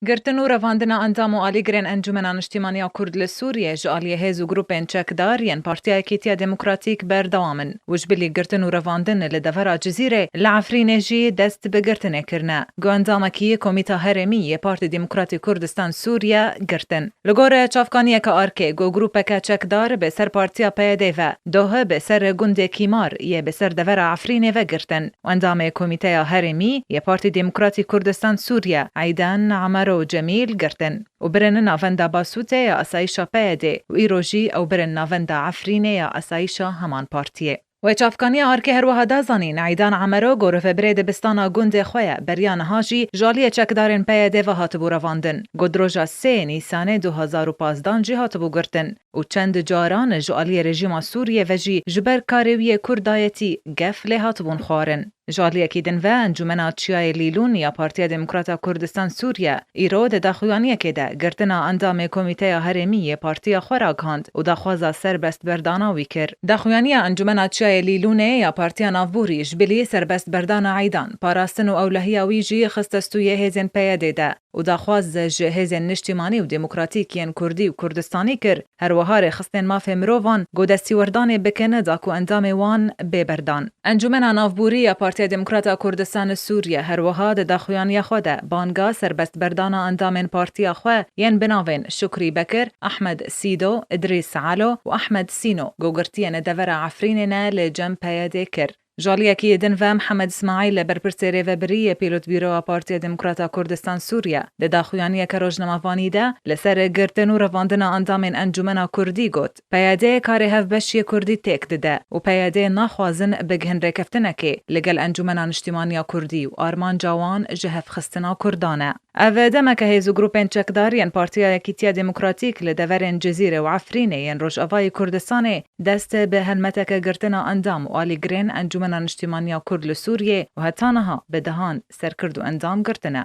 Girtin û revandina endam û alîgirên Encûmena Niştîmaniya Kurd li Sûriyê ji aliyê hêz û grûpên çekdar yên Partiya Yekîtiya Demokratîk berdewam in û ji bilî girtin û revandin li devera Cizîrê li Efrînê jî dest bi girtinê kirine ku endamekî yê Komîta Herêmî yê Partê Demokratî Kurdistan Sûriye girtin. Li gor çavkaniyeke ARK ku grûpeke çekdar bi ser partiya PYD ve, doh bi ser gundê Kîmar yê bi ser devera Efrînê ve girtin, Endamê Komîteya Herêmî yê Partî Demokratî Kurdistan Sûriye Eydan Amaro Cemîl girtin û birin navenda Basûtê ya Asayîşa PYD'ê û îro jî ew birin navenda Efrînê ya Asayîşa heman partiyê. Wê Çavkaniya ARK'ê her wiha da zanîn, Eydan Amaro ku rivebirê dibistana gundê xwe ye, beriya niha jî ji aliyê çekdarên PYD'ê ve hatibû revandin, ku di roja sê Nîsanê du hezar û pazdeh jî hatibû girtin. û çend caran ji aliyê rejîma Sûriyê ve jî ji ber karê wî yê Kurdayetî gef lê hatibûn xwarin. Ji aliyekî din ve Encûmena Çiyayê Lîlûn ya Partiya Demokrata Kurdistan Sûriye îro di daxuyaniyekê de girtina endamê Komîteya Herêmî yê partiya xwe ragihand û daxwaza serbestberdana wî kir. Daxuyaniya Encûmena Çiyayê Lîlûnê ya Partiya Navbûrî ji bilî serbestberdana Eydan, parastin û ewlehiya wî jî xiste stûyê hêzên PYD'ê de. û daxwaz ji hêzên niştîmanî û demokratîk yên kurdî û kurdistanî kir, her wiha rêxistinên mafê mirovan ku destîwerdanê bike neda ku endamê wan bê berdan. Encûmena Navborî ya Partiya Demokrat a Kurdistan li Sûriye her wiha di daxuyaniya xwe de banga serbestberdana endamên partiya xwe yên bi navên Şukrî Bekir, Ahmed Sîdo, Îdrîs Alo û Ahmed Sîno ku girtiyên li devera Efrînê ne li cem PYD'ê kir. Ji aliyekî din ve Mihemed Îsmaîl e berpirsê rêvebirî yê Pîlotbîroa Partiya Demokrat a Kurdistan Sûriye di daxuyaniyeke rojnamevanî de li ser girtin û revandina endamên encûmena kurdî got, PYD karê hevbeşiyê kurdî têk dide û PYD naxwazin bigihin rêkeftinekê li gel encûmena niştîmaniya kurdî û armanca wan jihevxistina kurdan e. Ev demeke hêz û grûpên çekdar yên Partiya Yekîtiya Demokratîk li deverên Cizîrê û Efrînê yên Rojavayê Kurdistanê dest bi helmeteke girtina endam û alîgirên Encûmena Niştîmaniya Kurd li Sûriyê û heta niha bi dehan serkird û endam girtine.